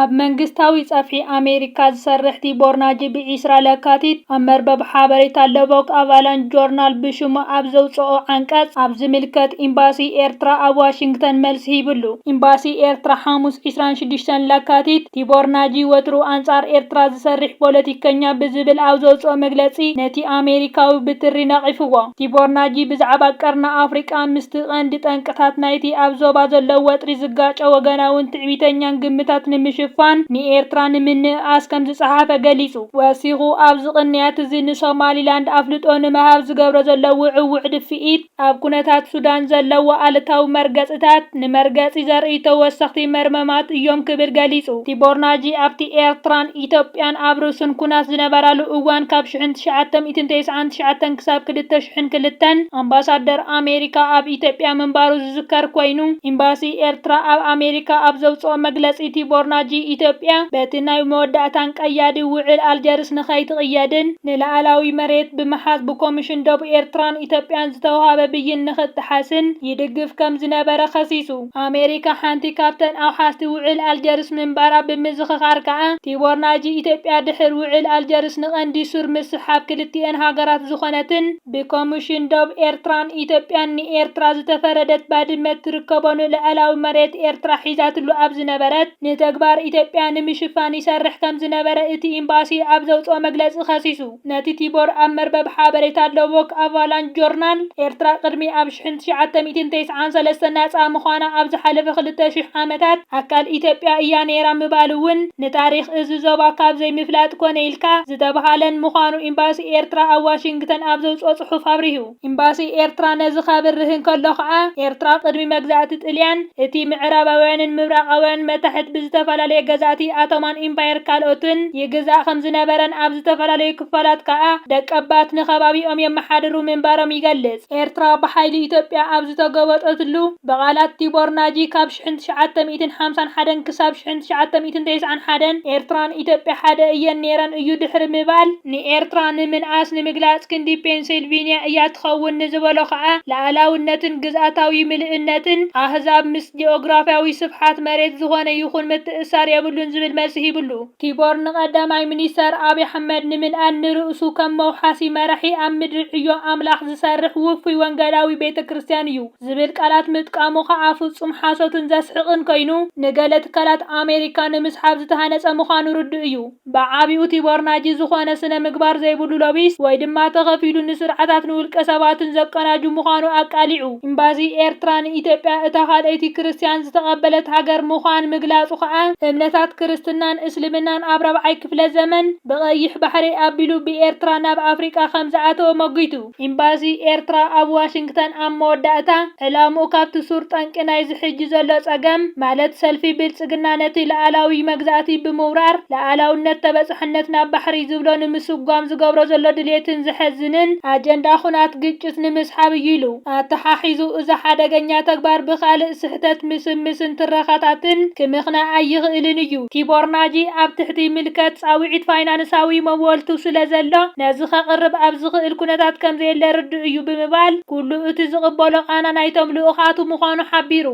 ኣብ መንግስታዊ ጸፍሒ ኣሜሪካ ዝሰርሕ ቲቦር ናጂ ብ ዕስራ ለካቲት ኣብ መርበብ ሓበሬታ ለቮክ ኣቫላንች ጆርናል ብሽሙ ኣብ ዘውጽኦ ዓንቀጽ ኣብ ዝምልከት ኢምባሲ ኤርትራ ኣብ ዋሽንግተን መልሲ ሂብሉ። ኢምባሲ ኤርትራ ሓሙስ ዕስራን ሽዱሽተን ለካቲት ቲቦር ናጂ ወትሩ ኣንጻር ኤርትራ ዝሰርሕ ፖለቲከኛ ብዝብል ኣብ ዘውጽኦ መግለጺ ነቲ ኣሜሪካዊ ብትሪ ነቒፍዎ። ቲቦር ናጂ ብዛዕባ ቀርኒ ኣፍሪቃ ምስቲ ቀንዲ ጠንቅታት ናይቲ ኣብ ዞባ ዘሎ ወጥሪ ዝጋጮ ወገናዊ ትዕቢተኛን ግምታት ንምሽፋን ንኤርትራ ንምንእኣስ ከምዝጸሓፈ ገሊጹ። ወሲኹ ኣብዚ ቅንያት እዚ ንሶማሊላንድ ኣፍልጦ ንምሃብ ዝገብሮ ዘሎ ውዕዉዕ ድፍኢት፣ ኣብ ኩነታት ሱዳን ዘለዎ ኣሉታዊ መርገጺታት ንመርገጺ ዘርእዩ ተወሰኽቲ መርመማት እዮም ክብል ገሊጹ። ቲቦር ናጂ ኣብቲ ኤርትራን ኢትዮጵያን ኣብ ርሱን ኩናት ዝነበራሉ እዋን ካብ ሽሕን ትሽዓተ ሚእትን ተስዓን ትሽዓተን ክሳብ ክልተ ሽሕን ክልተን ኣምባሳደር ኣሜሪካ ኣብ ኢትዮጵያ ምንባሩ ዝዝከር ኮይኑ፣ ኤምባሲ ኤርትራ ኣብ ኣሜሪካ ኣብ ዘውጽኦ መግለጺ፣ ቲቦር ናጂ ኢትዮጵያ በቲ ናይ መወዳእታን ቀያዲ ውዕል ኣልጀርስ ንኸይትቕየድን ንላኣላዊ መሬት ብምሓዝ ብኮምሽን ዶብ ኤርትራን ኢትዮጵያን ዝተውሃበ ብይን ንኽጥሓስን ይድግፍ ከም ዝነበረ ከሲሱ። ኣሜሪካ ሓንቲ ካብተን ኣውሓስቲ ውዕል ኣልጀርስ ምንባራ ብምዝኽኻር ከኣ፣ ቲቦር ናጂ ኢትዮጵያ ድሕር ውዕል ኣልጀርስ ንቀንዲ ሱር ምስሓብ ክልቲኤን ሃገራት ዝኾነትን፣ ብኮምሽን ዶብ ኤርትራን ኢትዮጵያን ንኤርትራ ዝተፈረደት ባድመ እትርከቦ ንልዐላዊ መሬት ኤርትራ ሒዛትሉ ኣብ ዝነበረት ንተግባር ኢትዮጵያ ንምሽፋን ይሰርሕ ከምዝነበረ እቲ ኢምባሲ ኣብ ዘውጽኦ መግለጺ ከሲሱ። ነቲ ቲቦር ኣብ መርበብ ሓበሬታ ሎቦክ ኣቫላንች ጆርናል፣ ኤርትራ ቅድሚ ኣብ ሽሕን ትሽዓተ ሚእትን ተስዓን ሰለስተ ናጻ ምዃና ኣብ ዝሓለፈ ክልተ ሽሕ ዓመታት ኣካል ኢትዮጵያ እያ ነይራ ምባሉ'ውን ንታሪኽ እዚ ዞባ ካብ ዘይምፍላጥ ኮነ ኢልካ ዝተብሃለን ምዃኑ ኢምባሲ ኤርትራ ኣብ ዋሽንግተን ኣብ ዘውጽኦ ጽሑፍ ኣብሪሁ። ኢምባሲ ኤርትራ ነዚ ካብርህ እንከሎ ከኣ፣ ኤርትራ ቅድሚ መግዛእቲ ጥልያን፣ እቲ ምዕራባውያንን ምብራቓውያንን መታሕት ብዝተፈላለየ ገዛእቲ ኣቶማን ኢምፓየር ካልኦትን ይግዛእ ከም ዝነበረን ኣብ ዝተፈላለዩ ክፋላት ከኣ ደቀባት ንከባቢኦም የመሓድሩ ምንባሮም ይገልጽ። ኤርትራ ብሓይሊ ኢትዮጵያ ኣብ ዝተጎበጠትሉ፣ ብቓላት ቲቦር ናጂ ካብ ሽሕን ትሽዓተ ሚእትን ሓምሳን ሓደን ክሳብ ሽሕን ትሽዓተ ሚእትን ተስዓን ሓደን ኤርትራን ኢትዮጵያ ሓደ እየን ነይረን እዩ ድሕሪ ምባል፣ ንኤርትራ ንምንኣስ ንምግላጽ ክንዲ ፔንሲልቪንያ እያ ትኸውን ንዝበሎ ከኣ፣ ልኣላውነትን ግዝኣታዊ ምልእነትን ኣህዛብ ምስ ጂኦግራፍያዊ ስፍሓት መሬት ዝኾነ ይኹን ምትእስሳር የብሉን ዝብል መልሲ ሂብሉ። ቲቦር ንቀዳማይ ሚኒስተር ኣብይ ኣሕመድ ንምንኣድ ንርእሱ ከም መውሓሲ መራሒ ኣብ ምድሪ ዕዮ ኣምላኽ ዝሰርሕ ውፉይ ወንገላዊ ቤተ ክርስትያን እዩ ዝብል ቃላት ምጥቃሙ ከኣ ፍጹም ሓሶትን ዘስሕቕን ኮይኑ ንገለ ትካላት ኣሜሪካ ንምስሓብ ዝተሃነጸ ምዃኑ ርዱእ እዩ። ብዓቢኡ ቲቦር ናጂ ዝኾነ ስነ ምግባር ዘይብሉ ሎቢስት ወይ ድማ ተኸፊሉ ንስርዓታት ንውልቀ ሰባትን ዘቀናጁ ምዃኑ ኣቃሊዑ። ኢምባሲ ኤርትራ ንኢትዮጵያ እታ ካልኣይቲ ክርስትያን ዝተቐበለት ሃገር ምዃን ምግላጹ ከኣ፣ እምነታት ክርስትናን እስልምናን ኣብ ራብዓይ ክፍለ ዘመን ብቐይሕ ባሕሪ ኣቢሉ ብኤርትራ ናብ ኣፍሪቃ ከም ዝኣተወ መጒቱ። ኢምባሲ ኤርትራ ኣብ ዋሽንግተን ኣብ መወዳእታ ዕላምኡ ካብቲ ሱር ጠንቂ ናይዚ ሕጂ ዘሎ ጸገም ማለት ሰልፊ ብልጽግና ነቲ ልኣላዊ መግዛእቲ ብምውራር ልኣላውነት ተበጻሕነት ናብ ባሕሪ ዝብሎ ንምስጓም ዝገብሮ ዘሎ ድሌትን ዘሕዝንን ኣጀንዳ ኩናት ግጭት ንምስሓብ እዩ ኢሉ። ኣተሓሒዙ እዚ ሓደገኛ ተግባር ብኻልእ ስሕተት ምስምስን ትረኻታትን ክምኽና ኣይኽእልን እዩ። ቲቦር ናጂ ኣብ ትሕቲ ምልከት ጻውዒት ፋይናንሳዊ መወልቱ ስለ ዘሎ ነዚ ከቕርብ ኣብ ዝኽእል ኩነታት ከም ዘየለ ርዱእ እዩ ብምባል ኩሉ እቲ ዝቕበሎ ቃና ናይቶም ልኡኻቱ ምዃኑ ሓቢሩ።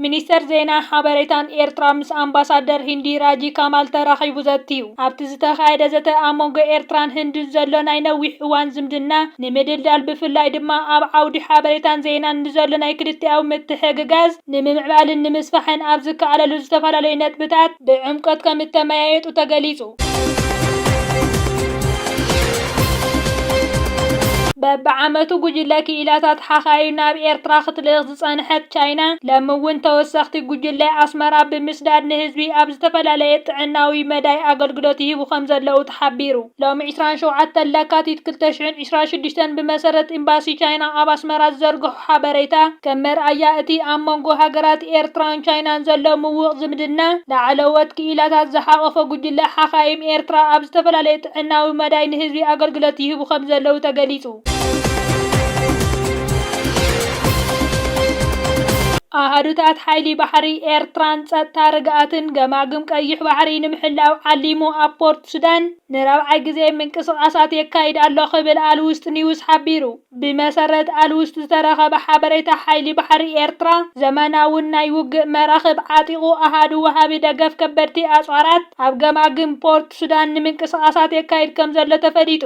ሚኒስተር ዜናን ሓበሬታን ኤርትራ ምስ ኣምባሳደር ሂንዲ ራጂ ካማል ተራኺቡ ዘትዩ። ኣብቲ ዝተኻየደ ዘተ ኣብ መንጎ ኤርትራን ህንድን ዘሎ ናይ ነዊሕ እዋን ዝምድና ንምድልዳል ብፍላይ ድማ ኣብ ዓውዲ ሓበሬታን ዜናን ንዘሎ ናይ ክልቲኣዊ ምትሕግጋዝ ንምምዕባልን ንምስፋሕን ኣብ ዝከኣለሉ ዝተፈላለዩ ነጥብታት ብዕምቆት ከምእተመያየጡ ተገሊጹ። በብዓመቱ ጉጅለ ክኢላታት ሓኻይም ናብ ኤርትራ ክትልእኽ ዝፀንሐት ቻይና ለሚ እውን ተወሰኽቲ ጉጅለ ኣስመራ ብምስዳድ ንህዝቢ ኣብ ዝተፈላለየ ጥዕናዊ መዳይ ኣገልግሎት ይህቡ ከምዘለዉ ተሓቢሩ። ሎሚ ዕስራን ሸውዓተን ለካቲት ክልተ ሽሕን ዕስራን ሽዱሽተን ብመሰረት ኢምባሲ ቻይና ኣብ ኣስመራ ዝዘርግሖ ሓበሬታ ከም መርኣያ እቲ ኣብ መንጎ ሃገራት ኤርትራን ቻይናን ዘሎ ምውቕ ዝምድና ላዕለዎት ክኢላታት ዝሓቖፈ ጉጅለ ሓኻይም ኤርትራ ኣብ ዝተፈላለየ ጥዕናዊ መዳይ ንህዝቢ ኣገልግሎት ይህቡ ከምዘለዉ ተገሊፁ። ኣሃዱታት ሓይሊ ባሕሪ ኤርትራን ጸጥታ ርግኣትን ገማግም ቀይሕ ባሕሪ ንምሕላው ዓሊሙ ኣብ ፖርት ሱዳን ንራብዓይ ግዜ ምንቅስቓሳት የካይድ ኣሎ ክብል ኣልውስጥ ኒውስ ሓቢሩ። ብመሰረት ኣልውስጥ ዝተረኸበ ሓበሬታ ሓይሊ ባሕሪ ኤርትራ ዘመናውን ናይ ውግእ መራኽብ ዓጢቑ ኣሃዱ ወሃቢ ደገፍ ከበድቲ ኣጽዋራት ኣብ ገማግም ፖርት ሱዳን ንምንቅስቓሳት የካይድ ከምዘሎ ተፈሊጡ።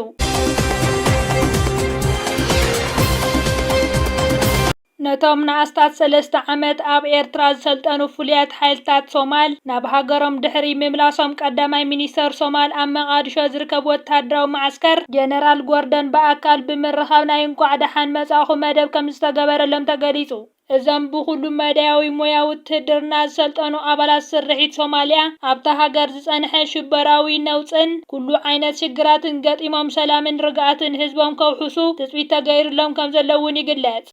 ነቶም ንኣስታት ሰለስተ ዓመት ኣብ ኤርትራ ዝሰልጠኑ ፍሉያት ሓይልታት ሶማል ናብ ሃገሮም ድሕሪ ምምላሶም ቀዳማይ ሚኒስተር ሶማል ኣብ መቓድሾ ዝርከብ ወተሃደራዊ መዓስከር ጀነራል ጎርደን ብኣካል ብምርኻብ ናይ እንቋዕ ደሓን መጻእኹም መደብ ከም ዝተገበረሎም ተገሊጹ። እዞም ብኹሉ መዳያዊ ሞያ ውትህድርና ዝሰልጠኑ ኣባላት ስርሒት ሶማልያ፣ ኣብታ ሃገር ዝጸንሐ ሽበራዊ ነውጽን ኩሉ ዓይነት ሽግራትን ገጢሞም ሰላምን ርግኣትን ህዝቦም ከውሕሱ ትጽቢት ተገይርሎም ከምዘሎ እውን ይግለጽ።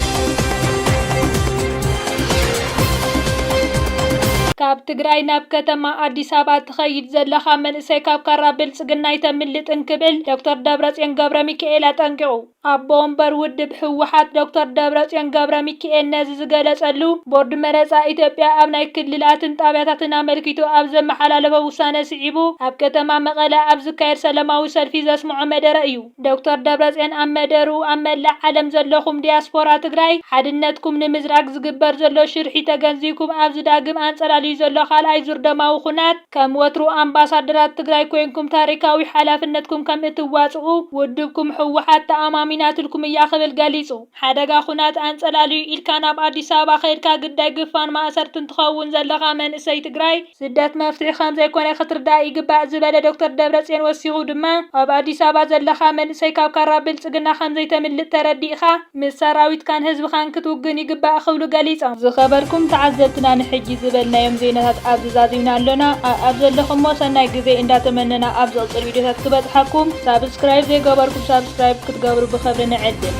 ካብ ትግራይ ናብ ከተማ ኣዲስ ኣበባ ትኸይድ ዘለኻ መንእሰይ ካብ ካራ ብልጽግና ኣይተምልጥን ክብል ዶክተር ደብረጽዮን ገብረሚካኤል ኣጠንቂቑ። ኣቦ ወንበር ውድብ ህወሓት ዶክተር ደብረፅዮን ገብረሚካኤል ነዚ ዝገለፀሉ ቦርድ መረፃ ኢትዮጵያ ኣብ ናይ ክልላትን ጣብያታትን ኣመልኪቱ ኣብ ዘመሓላለፎ ውሳነ ስዒቡ ኣብ ከተማ መቐለ ኣብ ዝካየድ ሰለማዊ ሰልፊ ዘስምዖ መደረ እዩ። ዶክተር ደብረፅዮን ኣብ መደርኡ ኣብ መላእ ዓለም ዘለኹም ዲያስፖራ ትግራይ ሓድነትኩም ንምዝራግ ዝግበር ዘሎ ሽርሒ ተገንዚብኩም ኣብዚ ዳግም ኣንፀላልዩ ዘሎ ካልኣይ ዙር ደማዊ ኹናት ከም ወትሩ ኣምባሳደራት ትግራይ ኮይንኩም ታሪካዊ ሓላፍነትኩም ከም እትዋፅኡ ውድብኩም ህወሓት ተኣማሚናትልኩም እያ ክብል ገሊፁ። ሓደጋ ኹናት ኣንፀላልዩ ኢልካ ናብ ኣዲስ ኣበባ ከይድካ ግዳይ ግፋን ማእሰርትን ትኸውን ዘለኻ መንእሰይ ትግራይ፣ ስደት መፍትሒ ከምዘይኮነ ክትርዳእ ይግባእ ዝበለ ዶክተር ደብረፅዮን ወሲኹ ድማ ኣብ ኣዲስ ኣበባ ዘለኻ መንእሰይ ካብ ካራ ብልፅግና ከምዘይተምልጥ ተረዲእኻ፣ ምስ ሰራዊትካን ህዝብኻን ክትውግን ይግባእ ክብሉ ገሊፆም። ዝኸበርኩም ተዓዘብትና ንሕጂ ዝበልናዮም ዜናታት ኣብዚ ዛዚምና ኣሎና ኣኣብ ዘለኹሞ ሰናይ ግዜ እንዳተመነና ኣብ ዝቕጽል ቪድዮታት ክበጽሓኩም ሳብስክራይብ ዘይገበርኩም ሳብስክራይብ ክትገብሩ ብኽብሪ ንዕድም።